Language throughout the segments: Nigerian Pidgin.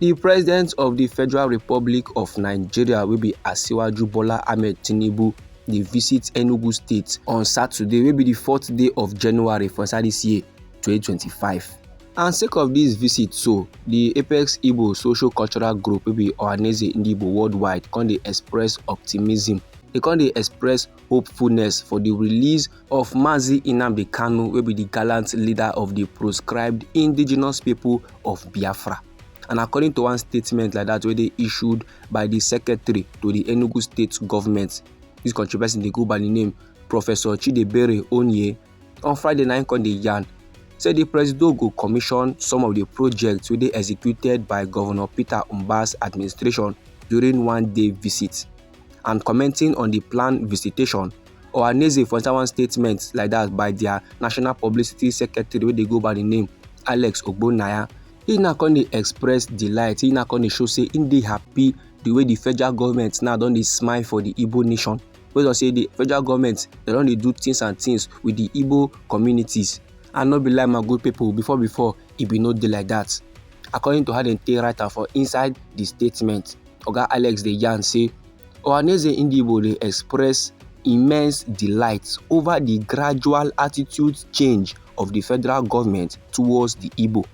di president of di federal republic of nigeria wey be asiwaju bola ahmed tinubu dey visit enugu state on saturday wey be di fourth day of january for inside dis year 2025 and sake of dis visit so di apex igbo social cultural group wey be ohaneze ndigbo worldwide come dey express optimism dey come dey express hopefulness for di release of mazi nnamdi kanu wey be di gallant leader of di proscribed indigenous pipo of biafra and according to one statement like dat wey dey issued by di secretary to di enugu state government dis country person dey go by di name professor chidebere onye on friday na im come dey yarn say di presido go commission some of di projects wey dey executed by governor peter mbas administration during one day visit and commenting on the planned visitation, Ohaneze for inside one statement like that by their national publicity secretary wey dey go by the name Alex Ogbonnaya, he now come dey express delight, he now come dey show say he dey happy the way the federal government now don dey smile for the Igbo nation. Wey don say the federal government dem don dey do things and things with the Igbo communities and no be lie my good people before before e be no dey like that according to how dem take write am for inside the statement. oga alex dey yarn say ohanaeze ndigbo dey express immense delight over di gradual attitude change of di federal goment towards di igbo.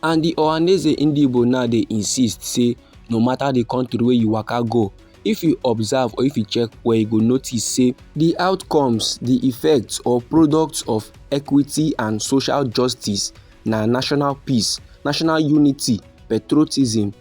and di ohanaeze ndigbo now dey insist say no mata di kontri wey you waka go if you observe or if you check well you go notice say. di outcomes di effects or products of equity and social justice na national peace national unity patriotism.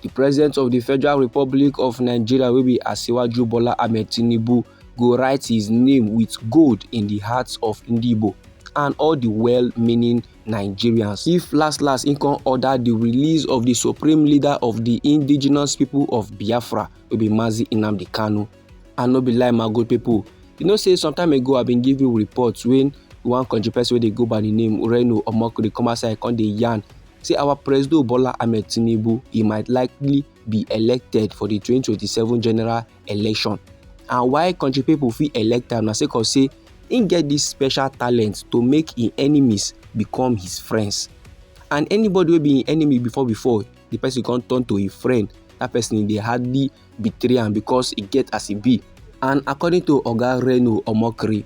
Di President of di Federal Republic of Nigeria wey be Asiwaju Bola Ahmed Tinubu go write his name with gold in di hearts of Ndigbo and all di well-meaning Nigerians if last last he come order di release of di supreme leader of di indigenous people of Biafra wey be Mazi Nnamdi Kanu. I no be lie my good people. You know say some time ago I been give you reports when one country person wey dey go by the name Ureno Omoko dey come outside come dey yarn say our President Bola Ahmed Tinubu he might likely be elected for the 2027 general election and why country people fit elect am na sake of say he get this special talent to make him enemies become his friends and anybody wey be him enemy before before the person come turn to him friend that person dey hardly betray am because e get as e be. And according to Oga Reno Omokri,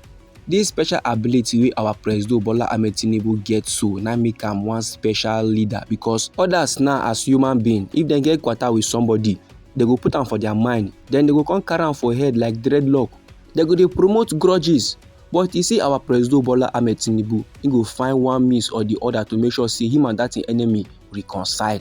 this special ability wey our Presido Bola Ahmed Tinubu get so na make am one special leader because others now as human being, if dem get kwata with somebody, they go put am for their mind, then they go come carry am for head like dreadlock. They go dey promote grudges. But you see our Presido Bola Ahmed Tinubu, he go find one means or the other to make sure say him and that enemy reconcile.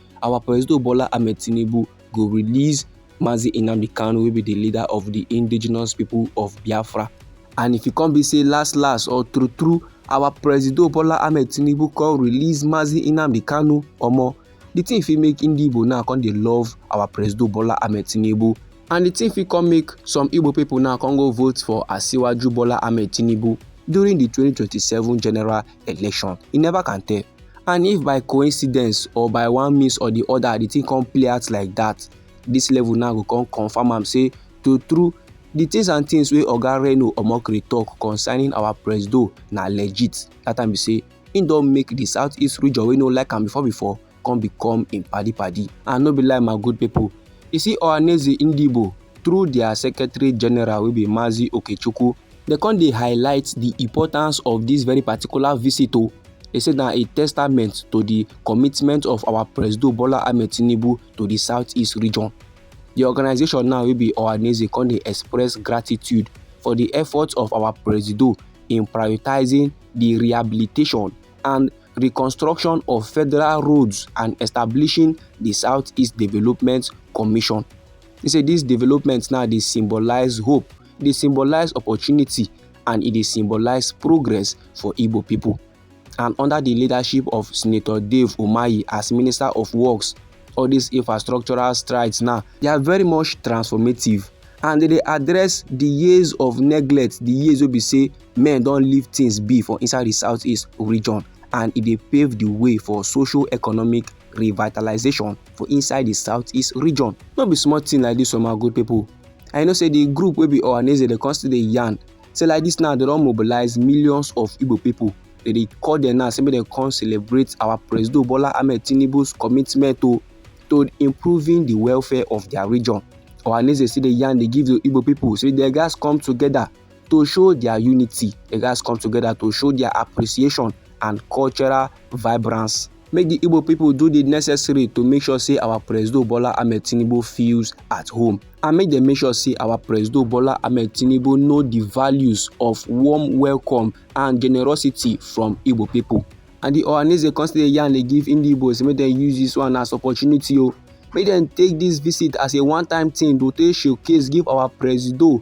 our Presido Bola Ahmed Tinubu go release Mazi Nnamdi Kanu wey be the leader of the indigenous people of Biafra. And if e come be say last last or true true our Presido Bola Ahmed Tinubu come release Mazi Nnamdi Kanu omo the thing fit make Ndi Igbo now come dey love our Presido Bola Ahmed Tinubu and the thing fit come make some Igbo people now come go vote for Asiwaju Bola Ahmed Tinubu during the 2027 general election. You never can tell. and if by coincidence or by one means or the other the thing come play out like that this level now go come confirm am say true true the things and things wey oga reno omokri talk concerning our presido na legit that time be say im don make the southeast region wey no like am before before come become im padi padi and no be like my good people you see ohaneze ndigbo through their secretary general wey be mazi okechukwu dem come dey highlight the importance of this very particular visit o oh. they say na a testament to the commitment of our presido bola ahmed tinubu to the southeast region the organization now wey be ohaneze come dey express gratitude for the efforts of our presido in prioritizing the rehabilitation and reconstruction of federal roads and establishing the southeast development commission he say this development now dey symbolize hope e dey symbolize opportunity and e dey symbolize progress for Igbo people. And under the leadership of Senator Dave Umahi as Minister of Works, all these infrastructural strides now, they are very much transformative and they dey address the years of neglect, the years wey be say men don leave things be for inside the southeast region and e dey pave the way for social economic revitalization for inside the southeast region. No be small thing like this, oh my good people. and you know say the group will be Ohaneze they constantly still dey yarn say like this now they don't mobilize millions of Igbo people they dey call them now say make dem come celebrate our president Bola Ahmed Tinubu's commitment to to improving the welfare of their region Ohaneze still dey yarn dey give the Igbo people say their guys come together to show dia unity dem gatz come together to show dia appreciation and cultural vibrance make di igbo pipo do di necessary to make sure say our presido bola ahmed tinubu feels at home and make dem make sure say our presido bola ahmed tinubu know di values of warm welcome and generosity from igbo pipo and di ohaneze come still dey yarn dey give ndi igbos make dem use dis one as opportunity o oh. make dem take dis visit as a one time thing to take showcase give our presido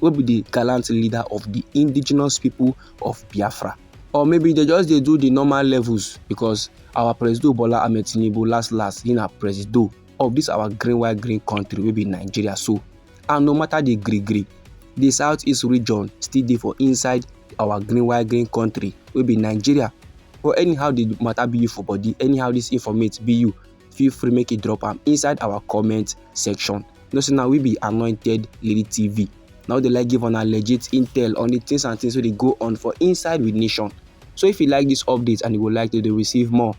wey be the gallant leader of the indigenous people of biafra or maybe they just dey do the normal levels because our presido bola ahmed tinubu last last he na presido of this our green white green country wey be nigeria so and no matter the gree gree the southeast region still dey for inside our green white green country wey be nigeria but anyhow the matter be you for body anyhow this informate be you feel free make you drop am inside our comment section you know say na we be anointed lady tv na we dey like give una legit intel on the things and things wey dey go on for inside with nation so if you like this update and you would like to dey receive more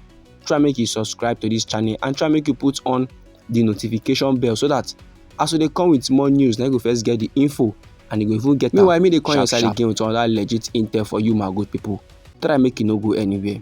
try make you subscribe to this channel and try make you put on the notification bell so that as we dey come with more news na you go first get the info and you go even get am meanwhile me dey come your side again with another legit intel for you my good people try make you no go anywhere